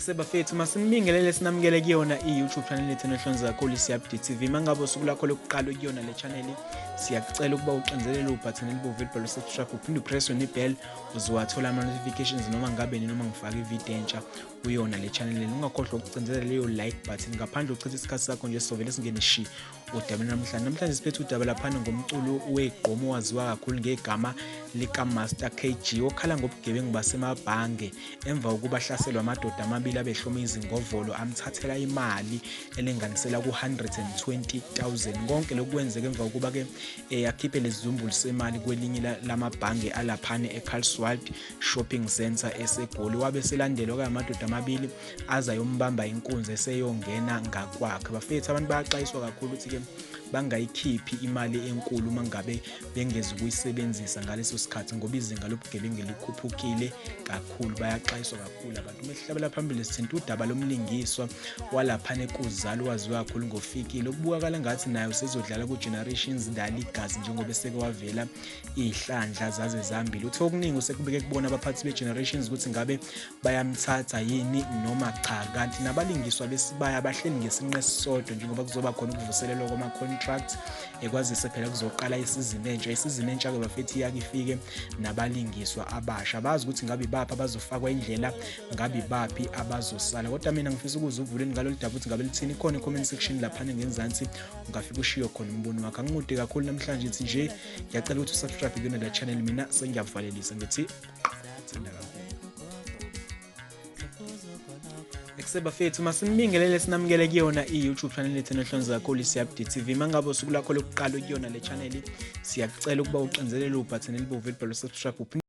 sebafethu masimbingelele sinamukele kuyona i-youtube channel yethu enohlonza kakhulu siyabd tv mangabe usuku lakho lokuqala ukuyona le channel siyakucela ukuba uxinzelele ubhathini elibovu elibhalwe subscribe uphinde upresswe nebell uzowathola ama-notifications noma ngabe noma ngifake ividiyo entsha kuyona le channel lena ungakhohlwa ukucindezela leyo like button ngaphandle uchitha isikhathi sakho nje sovele singene shi udabeni namhlanje namhlanje siphethe udaba laphana ngomculo wegqomo owaziwa kakhulu ngegama likamaster kg okhala ngobugebengu basemabhange emva kokuba ahlaselwa amadoda amabili abehloma izingovolo amthathela imali elinganisela ku-120 000 konke lokhu kwenzeka emva kokuba-ke eh, akhiphe lesizumbulu semali kwelinye lamabhange alaphane ecarlswald Shopping Centre eseGoli wabe eselandelwa kamadoda amabili aza yombamba inkunzi eseyongena ngakwakhe bafethu abantu bayaxwayiswa kakhulu ukuthi-ke bangayikhiphi imali enkulu uma ngabe bengezi ukuyisebenzisa ngaleso sikhathi ngoba izinga lobugebengu likhuphukile kakhulu bayaxwayiswa kakhulu abantu uma sihlabela phambili sithinta udaba lomlingiswa walaphana ekuzali waziwa kakhulu ngofikile okubukakala ngathi naye usezodlala ku-generations dali igazi njengoba eseke wavela iy'hlandla zaze zambili uthe okuningi usekubeke kubona abaphathi be-generations ukuthi ngabe bayamthatha yini noma cha kanti nabalingiswa besibaya bahleli ngesinqe sisodwa njengoba kuzoba khona ukuvuselelwa kwama-contract ekwazise phela kuzoqala isizini entsha isizini entsha-ke bafethi iyake ifike nabalingiswa abasha bazi ukuthi ngabe ibaphi abazofakwa indlela ngabe ibaphi abazosala kodwa mina ngifisa ukuze uvuleni ngalolu daba ukuthi ngabe lithini khona i-comment section laphana ngenzansi ungafike ushiyo khona umbono wakho angikude kakhulu namhlanje ngithi nje ngiyacela ukuthi usubscribe kuyona la channel mina sengiyavalelisa ngithi thanda kakhulu sebafethu masinibingelele sinamukele kuyona i-youtube channel yethu enohlonzi kakhulu i-cbd tv uma ngabe usuku lakho lokuqala ukuyona le channel siyakucela ukuba uxinzelele ubhathini elibomvu elibhalwe subscribe